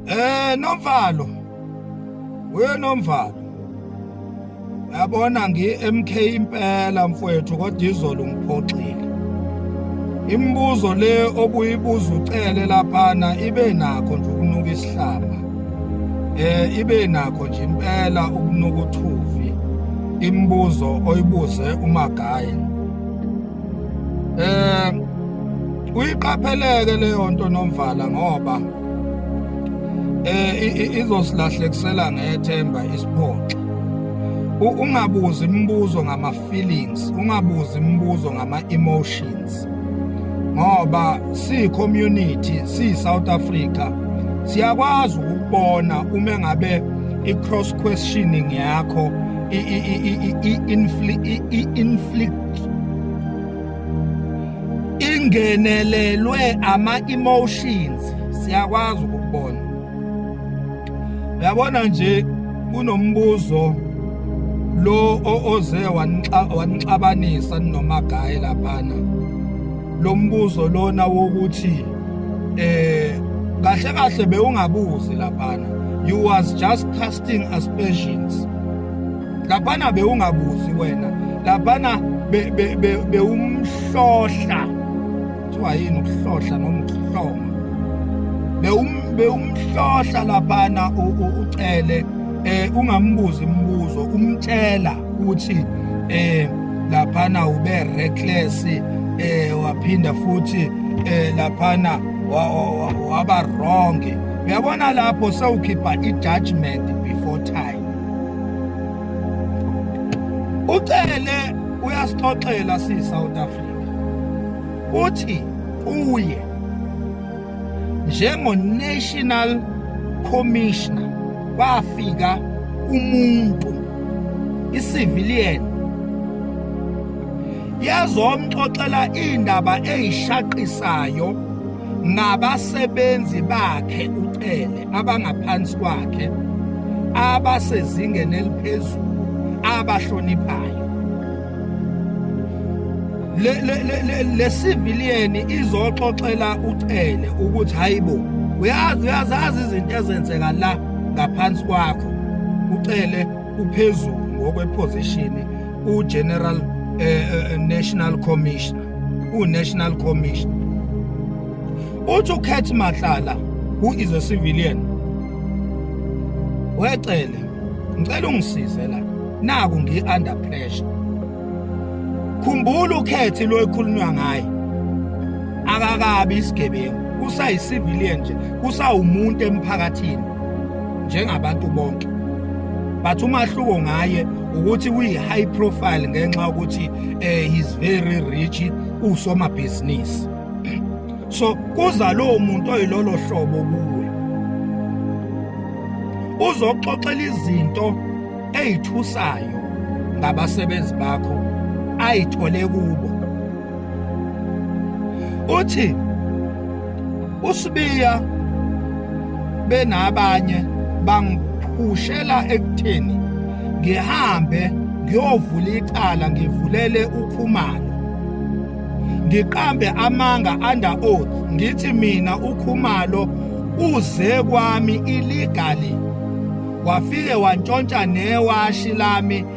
Eh Nomvalo. We Nomvalo. Yabona ngi MK impela mfowethu kodwa izolo ngiphoxile. Imibuzo le obuyibuza ucele laphana ibe nakho nje ukunuka isihlaba. Eh ibe nakho nje impela ukunuka uthuvi. Imibuzo oyibuze umagaye. Eh uyiqapheleke leyo nto nomvala ngoba eh izosilahlekisela ngethemba isiphoxa ungabuzi imibuzo ngama feelings ungabuzi imibuzo ngama emotions ngoba si community si South Africa siyakwazi ukubona uma ngabe i cross questioning yakho i inflict ingenelelwe ama-emotions siyakwazi ukubona uyabona nje kunombuzo lo oze wanixabanisa ninomagaye laphana lo mbuzo lona wokuthi eh kahle kahle bewungabuzi laphana you was just casting aspersions laphana bewungabuzi wena laphana bewumhlohla kuthiwa yini ukuhlohla noma ukuhloma bewumhlohla laphana ucele eh ungambuzi imibuzo umtshela ukuthi eh laphana ube reckless eh waphinda futhi eh laphana waba wrong uyabona lapho sewukhipha i-judgment before time ucele uyasixoxela si-south africa uthi uye njengo-national commissioner kwafika umuntu i-civilian yazomxoxela iindaba eyishaqisayo nabasebenzi bakhe uCele abangaphansi kwakhe abasezingeni eliphezulu abahloniphayo le le le le civilian izoxoxela uCele ukuthi hayibo uyazi uyazazi izinto ezenzeka la ngaphansi kwakho ucele Uphezulu ngokwephozishini uGeneral eh, eh, eh, National Commissioner, uNational Commissioner. Uthi uKhethi Matlala who is a civilian. Wecele, ngicela ungisize la. Naku ngi under pressure. Khumbula uKhethi lo ekhulunywa ngaye. Akakabi isigebengu, usayicivilian nje, kusawumuntu emphakathini. njengabantu bonke but umahluko ngaye ukuthi uyi high profile ngenxa ukuthi eh he's very rich usoma business so kuza lowo muntu oyilolo hlobo kuwe uzoxoxela izinto ezithusayo ngabasebenzi bakho ayithole kubo uthi uSibiya benabanye bangiphushela ekutheni ngihambe ngiyovula icala ngivulele ukhumalo ngiqambe amanga under oath ngithi mina ukhumalo uze kwami illegally wafike wantshontsha newashi lami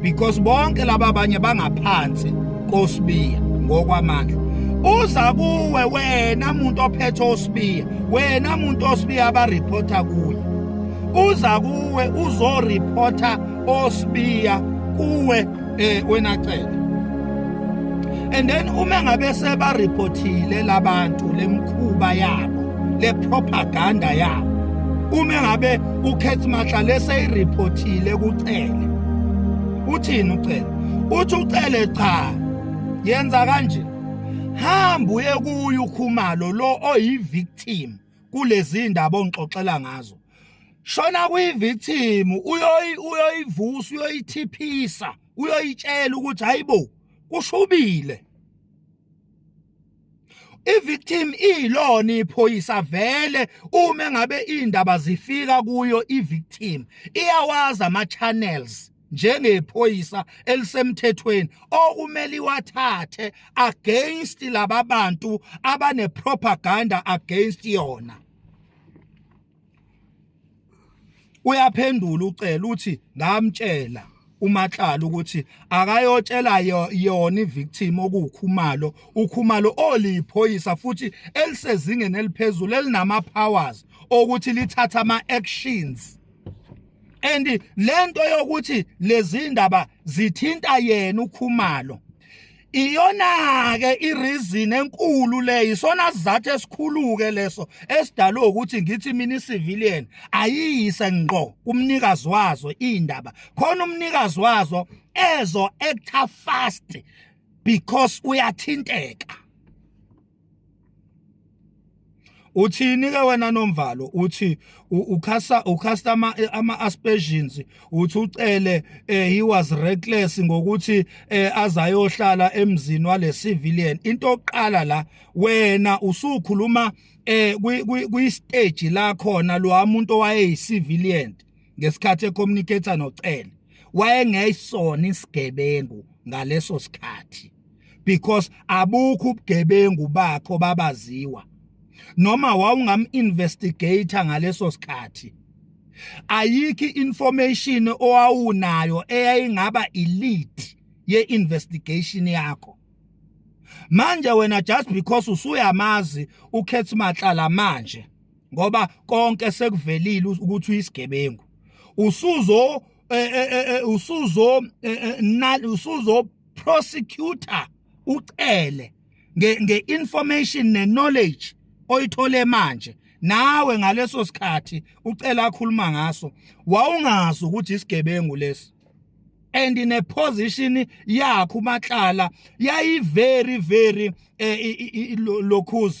because bonke laba abanye bangaphansi kosibiya ngokwamandla uza kuwe wena muntu ophethe osibiya wena muntu osibiya abareporta kuye uza kuwe uzoreporta osibiya kuwe eh wena cela and then uma ngabe seba reportile labantu lemkhuba yabo le propaganda yabo uma ngabe uKate Matlale seyiriphothile kuCele uthini uCele uthi uCele cha yenza kanje hamba uye kuye ukhumalo lo oyivictim kulezi ndaba ongixoxela ngazo shona kuyivictim uyoyi uyoyivusa uyoyithiphisa uyoyitshela ukuthi hayibo kushubile ivictim iyilona iphoyisa vele uma ngabe indaba zifika kuyo ivictim iyawazi ama channels njengephoyisa elisemthethweni okumele iwathathe against laba bantu abane propaganda against yona uyaphendula ucela uthi ngamtshela umatlala ukuthi akayotshela yona ivictim okuwukhumalo ukhumalo oliyiphoyisa futhi elisezingeni eliphezulu elinama powers okuthi lithatha ama actions and lento yokuthi lezindaba zithinta yena ukhumalo iyona-ke ireason enkulu le isona sizathu esikhulu-ke leso esidalwe ukuthi ngithi mina i-civilian ayiyise ngqo kumnikazi wazo iy'ndaba khona umnikazi wazo ezo-actor fast because uyathinteka uthini ke wena nomvalo uthi ukhasa ukhasta ama ama aspersions uthi ucele eh, he was reckless ngokuthi eh, azayohlala emzini wale civilian into oqala la wena usukhuluma eh kwi stage la khona lo umuntu owayeyi civilian ngesikhathi ecommunicator nocele wayengeyisona isigebengu ngaleso sikhathi because abukho ubugebengu bakho babaziwa noma wawungam investigator ngaleso sikhathi ayikho information owawunayo eyayingaba elite ye investigation yakho manje wena just because usuyamazi ukhethi matlala manje ngoba konke sekuvelile ukuthi uyisigebengu usuzo eh, eh, eh, usuzo usuzo prosecutor ucele nge-information ne-knowledge oyithole manje nawe ngaleso sikhathi ucela akhuluma ngaso wawungazi ukuthi isigebengu lesi and in a position yakho umatlala yayi very very eh, lokhuza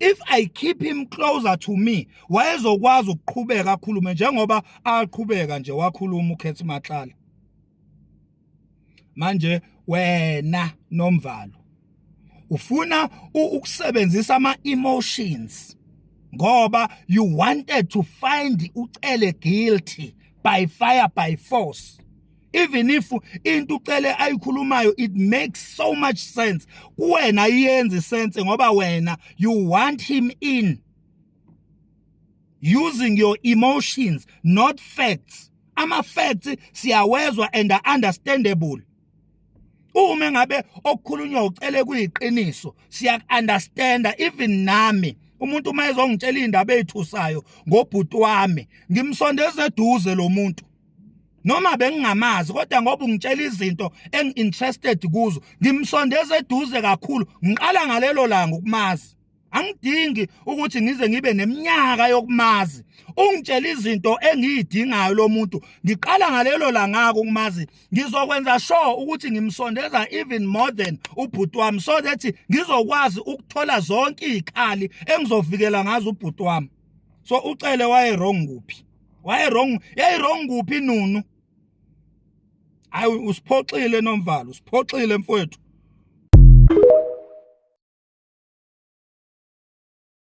if i keep him closer to me wayezokwazi ukuqhubeka akhulume njengoba aqhubeka nje wakhuluma ukhethi matlala manje wena nomvalo ufuna ukusebenzisa ama emotions ngoba you wanted to find ucele guilty by fire by force even if into ucele ayikhulumayo it makes so much sense kuwena iyenze sense ngoba wena you want him in using your emotions not facts ama facts siyawezwa and are understandable uma ngabe okukhulunywa ucele kuyiqiniso siya understanda even nami umuntu uma ezongitshela indaba ezithusayo ngobhuti wami ngimsondeza eduze lo muntu noma bengingamazi kodwa ngoba ungitshela izinto engi-interested kuzo ngimsondeza eduze kakhulu ngiqala ngalelo langa ukumazi angidingi ukuthi ngize ngibe neminyaka yokumazi ungitshela izinto engiyidingayo lo muntu ngiqala ngalelo langako ukumazi ngizokwenza sure ukuthi ngimsondeza even more than ubhuti wami so that ngizokwazi ukuthola zonke izikhali engizovikela ngazo ubhuti wami so ucele waye wrong kuphi waye wrong yayi wrong kuphi nunu hayi usiphoxile nomvalo usiphoxile mfowethu